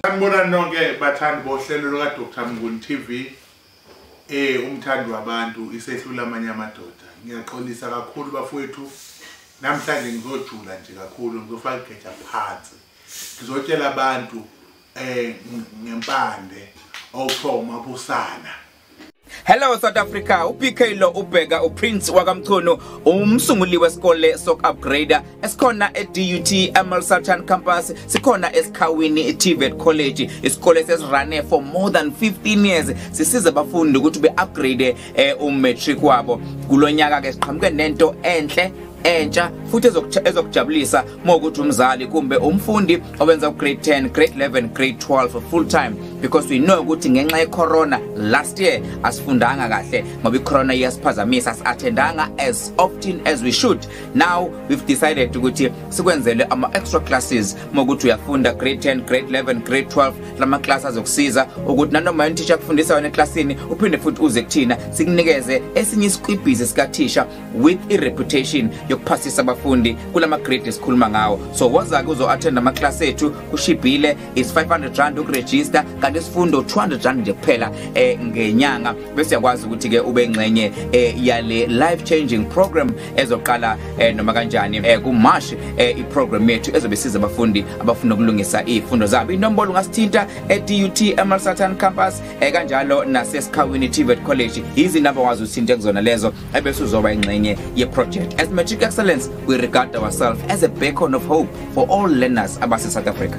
Sanibona nonke bathandi bohlelo luka Dr Mnguni TV. Eh umthandi wabantu isehlula amanye amadoda. Ngiyaxolisa kakhulu bafowethu. Namhlanje ngizojula nje kakhulu ngizofaka igeja phansi. Ngizotshela abantu eh ngempande awuthoma busana. Hello South Africa uPK lo ubheka uPrince wakamchunu umsunguli wesikole sok upgrader esikhona eDUT Amal Sultan campus sikhona esikhawini TVET College isikole sesirane for more than 15 years sisiza abafundi ukuthi be upgrade eh, um matric wabo kulonyaka ke siqhamuke nento enhle entsha futhi ezokujabulisa uma ukuthi umzali kumbe umfundi owenza ugrade 10 grade 11 grade 12 full time because we know ukuthi ngenxa yecorona last year asifundanga kahle ngoba icorona iyasiphazamisa asathendanga as often as we should now we've decided ukuthi sikwenzele ama extra classes uma ukuthi uyafunda grade 10 grade 11 grade 12 lama class azokusiza ukuthi nanoma yini teacher akufundisa wena eclassini uphinde futhi uze kuthina sikunikeze esinye isiqibhizi sikathisha with i-reputation yokuphasisa abafundi kula magrade esikhuluma ngawo so woza-ke uzo-athenda amaklasi ethu kushibhile is 500 rand ukurejista kanti isifundo 200 rand nje kuphela um eh, ngenyanga bese yakwazi ukuthi-ke ube ngxenye um eh, yale life changing program ezoqala um noma kanjani um kumash um iprogram yethu ezobe siza abafundi abafuna ukulungisa iy'fundo zabo inombolo ungasithinta e-dut emalsatan campus um kanjalo nasesikhawini tvet college yizinamba wazi uthinte kuzona lezo ebese uzoba ingxenye yeproject as matric excellence we regard ourselves as a beacon of hope for all learners abase-south africa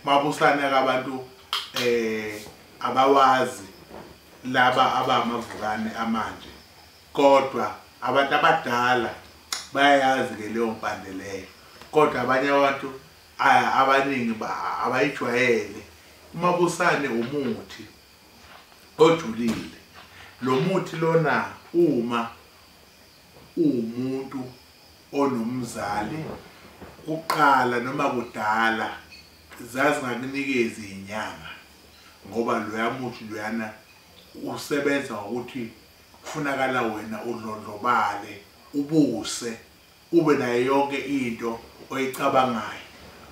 mabusane kabantu eh abawazi laba abamavukane amanje kodwa abantu abadala bayayazi ke leyo mpande leyo kodwa abanye abantu abaningi abayijwayele umabusane umuthi ojulile lo muthi lona uma uwumuntu onomzali kuqala noma kudala zazingakunikezi inyanga ngoba loya muthi loyana usebenza ngokuthi kufunakala wena udlondlobale ubuse ube nayo yonke into oyicabangayo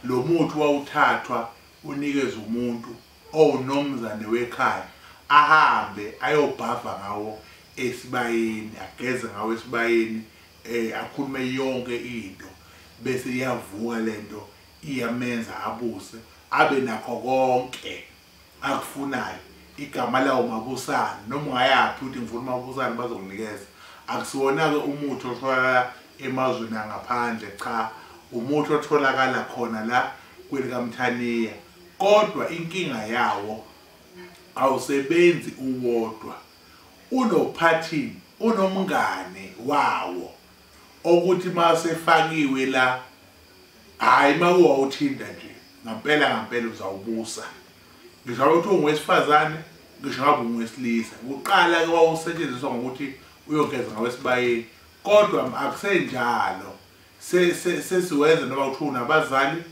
lo muthi wawuthathwa unikeze umuntu owunomzane wekhaya ahambe ayobhava ngawo esibayeni ageze ngawo esibayeni eh akhulume yonke into bese iyavuka lento iyamenza abuse abe nakho konke akufunayo igama lawo mabusane noma ungayaphi ukuthi ngifuna umabusane bazokunikeza akusiwona-ke umuthi otholakala emazweni angaphandle cha umuthi otholakala khona la kwelikamthaniya kodwa inkinga yawo awusebenzi uwodwa unophathini unomngane wawo okuthi masefakiwe la hayi mawuwa uthinda nje ngampela ngampela uzawubusa ngisho ngabe kuthiwa ungowesifazane ngisho ngabe ungowesilisa kuqala ke wawusetshenziswa ngokuthi uyogeza ngawesibayeni kodwa akusenjalo sesiwenza noma kuthiwa unabazali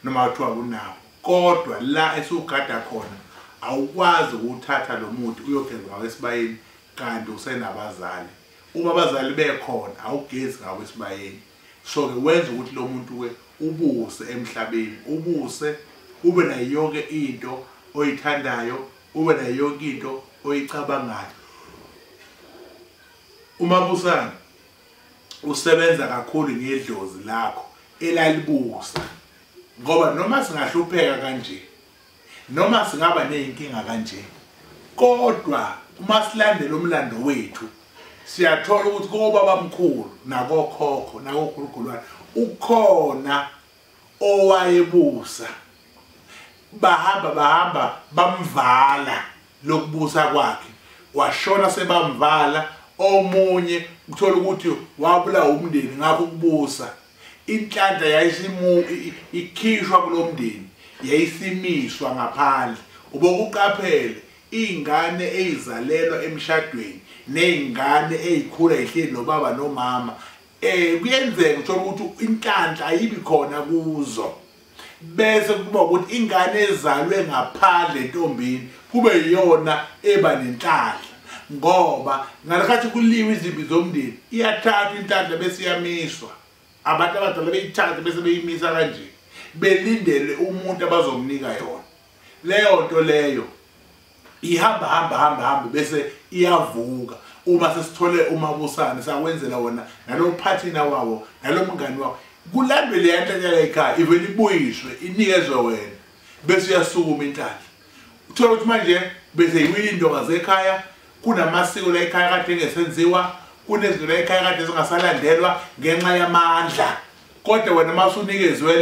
noma kuthiwa kunabo kodwa la esiwugada khona awukwazi ukuwuthatha lo muthi uyogeza ngawesibayeni kanti usenabazali uma abazali bekhona awugezi ngawo esibayeni so ke wenza ukuthi lo muntu ke ubuse emhlabeni ubuse ube nayo yonke into oyithandayo ube nayo yonke into oyicabangayo umabusana usebenza kakhulu ngedlozi lakho elalibusa ngoba noma singahlupheka kanje Noma singaba nezinkinga kanje kodwa uma silandela umlando wethu siyathola ukuthi kobaba mkhulu nakokhokho nakokhulukhulwane ukhona owayebusa bahamba bahamba bamvala lokubusa kwakhe washona sebamvala omunye uthola ukuthi wabulawa umndeni ngakho ukubusa inhlanhla yayisimu ikhishwa kulomndeni yayisimiswa ngaphandle ubokuqaphele ingane eyizalelwa emshadweni nezingane ezikhula ihleli nobaba nomama eh kuyenzeka uthola ukuthi inhlanhla ayibi khona kuzo bese kuba ukuthi ingane ezalwe ngaphandle entombini kube yiyona eba nenhlanhla ngoba ngalekhathi kuliwe izimbi zomndeni iyathathwa inhlanhla bese iyamiswa abantu abadala beyithathe bese beyimisa kanje belindele umuntu abazomnika yona leyo nto leyo ihamba hamba hamba hamba bese iyavuka uma sesithole umabusane sakwenzela wona nalophathina wawo nalomngani wawo kulandwe le yanhlanhla ekhaya ivele ibuyiswe inikezwe wena bese uyasukuma inhlanhla uthola ukuthi manje bese yiwile intokazi ekhaya kunamasiko la ekhaya kade engesenziwa kunezinto la ekhaya kade zingasalandelwa ngenxa yamandla kodwa wena uma usunikezwe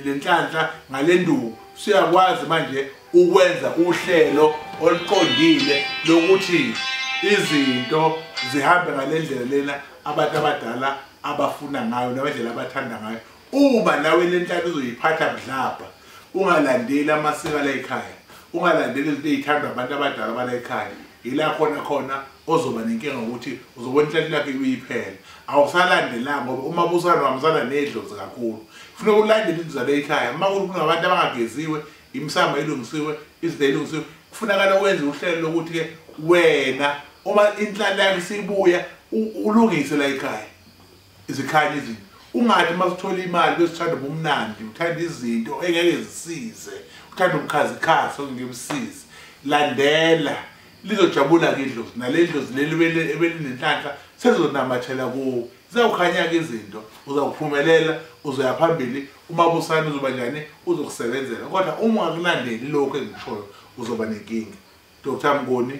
le nhlanhla ngale nduku siyakwazi manje ukwenza uhlelo oluqondile lokuthi izinto zihambe ngale ndlela lena abantu abadala abafuna ngayo nabendlela abathanda ngayo uma nawe le nhlaka uzoyiphatha budlabha ungalandeli amasiko ala ekhaya ungalandeli izinto ey'thandwa abantu abadala abala ekhaya yila khona khona ozoba nenkinga ukuthi uzobona inhlahla lakhe kuyiphela awusalandelanga ngoba uma busana wamsana nedlozi kakhulu kufuneka ulandele indizalo eyikhaya uma kunabantu abangageziwe imisamba elungisiwe izinto elungisiwe kufunakala wenze uhlelo lokuthi-ke wena uma inhlala yakho isibuya ulungise la ekhaya izikhali izinto ungathi uma sithola imali besithanda ubumnandi uthanda izinto engeke zisize uthanda ubukhazikhazi okungeke busize landela lizojabula-ke idlozi nale dlozi leli ebelinenhlanhla sezonamathela kuwo zizawukhanya-ke izinto uzawuphumelela uzoya phambili umabusane uzoba njani uzokusebenzela kodwa uma ungakulandeli lokhu engishoyo uzoba nenkinga dr mngoni